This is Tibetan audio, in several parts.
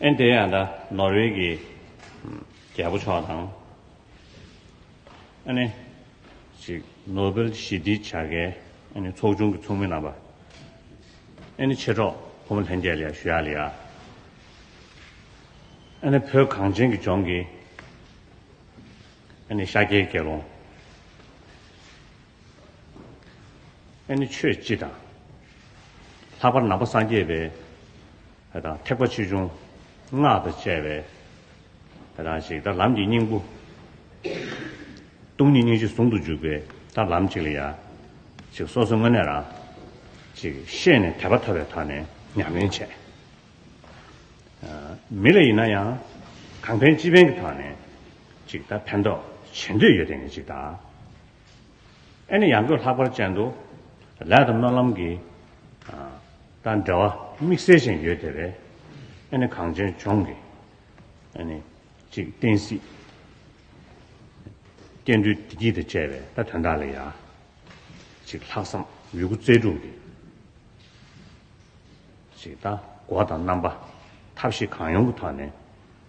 ཨན་དེ་ཡང་འདྲ་ནོར་ཝེ་གི་རྒྱལ་པོ་མཆོག་དང། ཨ་ནེ། ཞིག་ནོ་བེལ་ཞི་བདེའི་བྱ་དགའི་ཨ་ནེ་ཚོགས་ཆུང་གི་ཚོགས་མི་རྣམ་པ། ཨ་ནེ་ཆེ་གྲོགས་ཕོ་མོ་ལྷན་རྒྱས་ལིའ་ཞུ་ཡ་ལི་ཡ། ཨ་ནེ་བོད་གངས་ཅན་གྱི་ལྗོངས་ཀྱི་ཨ་ནེ་ཤཱཀྱའི་དགེ་སློང། ཨེ་ནི་ཆོས་སྤྱི་དང། ལྷག་པར་ནང་པ་སངས་རྒྱས་པའི་དང། ཐེག་པ་ཆེ་ཆུང་སྔགས་དང་བཅས་པའི་དང། ཞིག་དང། ལམ་གྱི་སྙིང་པོ། སྟོང་ཉིད་སྙིང་རྗེ་ཟུང་དུ་འཇུག་པའི་དང། ལམ་གཅིག་ལ་ཡང། ཞིག་སོ་སོའི་དངོས་གནས་རང། ཞིག་ཤེས་ནས་དད་པ་ཐོབ་པའི་དང་ནས་ཉམས་ལེན་བྱས། མི་ལ་ཡིན་ན་ཡང། གང་ཕན་ཅི་ཕན་གྱི་དང་ནས། ཅིག་དང། ཕན་འདོགས་བྱེད་འདོད་ཡོད་དེ་ནས་ཅིག་དང། ཨེ་ནི་ཡང་སྒོས་ལྷག་པར་ཅན་དུ། ལས་དང་སྨོན་ལམ་གྱི། དང་འབྲེལ་བ་དམིགས་བསལ་ཅན་ཡོད་དེ་བས། ཨེ་ནི་གངས་ཅན་ལྗོངས་ཀྱི། ཨེ་ནི་ཅིག། བསྟན་སྲིད། བསྟན་འགྲོའི་བདེ་སྐྱིད་དང་བཅས་པའི་དོན་དག་ལ་ཡང། ཅིག། ལྷག་བསམ་ཡོད་རྒུ་རྩལ་སྤྲུགས་ཏེ། ཅིག། སྒོ་དང་རྣམ་པ་ཐབས་ཤེས་གང་ཡོང་གི་ཐོག་ནས།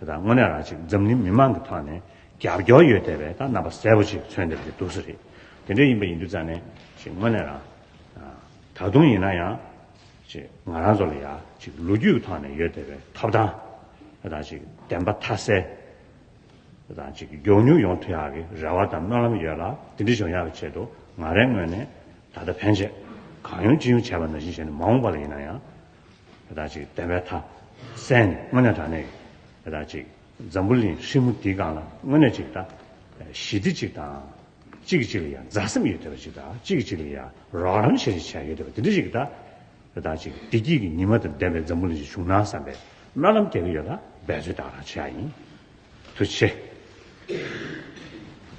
དང་དངོས་གནས་རང་གཅིག་འཛམ་གླིང་མི་དམངས་ཀྱི་ཐོག་ནས་རྒྱབ་སྐྱོར་ཡོད་བསྡད་པས་ད་རྣམ་པ་གསལ་པོ་ཅིག་མཚོན་བསྡད་པ་དེ་འདུག་ས་རེད། དེ་འདྲ་ཡིན་པ་ཡིན་དུས་རྩ་ནས་ཅིག་དངོས་གནས་རང། ད་དུང་ཡིན་ན་ཡང། ཅིག་ང་རང་ཚོ་ལ་ཡང་ཅིག་ལོ་རྒྱུས་ཀྱི་ཐོག་ནས་ཡོད་བསྡད་པའི་ཐོབ་ཐང། དང་ཅིག་བདེན་པ་མཐའ་གསལ། དང་ཅིག་མགྱོགས་མྱུར་ཡོང་ཐུ་ཡག་གི་རེ་བ་དང་སྨོན་ལམ་ཡོད་ལ་དེ་འདྲ་བྱུང་ཡག་གི་ཆེད་དུ་ང་རང་ངོས་ནས་ད་ལྟ་ཕན་ཆད། གང་ཡོང་ཅི་ཡོང་བྱས་པ་ནང་བཞིན་བྱས་ནས་མ་འོངས་པ་ལ་ཡིན་ན་ཡང། ར་ཅིག་བདེ་བའི་ཐ། སྲས་ནི་དངོས་གནས་དྲག་ནས་ཡོད། ར་ཅིག། འཛམ་བུ་གླིང་ཧྲིལ་མོ་འདིའི་སྒང་ལ་དངོས་གནས་ཅིག་ལྟ། ཞི་བདེ་ཅིག་དང། གཅིག་གི་གཅིག་ལ་ཡ་མཛའ་སེམས་ཡོད་བསྡད་པ་ཅིག་དང་གཅིག་གི་གཅིག་ལ་ཡ་རོགས་རམ་བྱེད་བྱེད་བྱ་ཡོད་བསྡད་པ་དེ་འདྲ་ཅིག་ལྟ། ར་ཅིག་བདེ་སྐྱིད་ཀྱི་ཉི་མ་དང་ལྡན་པའི་འཛམ་བུ་གླིང་ཞིག་བྱུང་ན་བསམ་པའི་སྨོན་ལམ་རྒྱག་གི་ཡོད་ལ་འབད་རྩོལ་དང་རང་བྱས་ཡིན། ཐུ་ཆེ།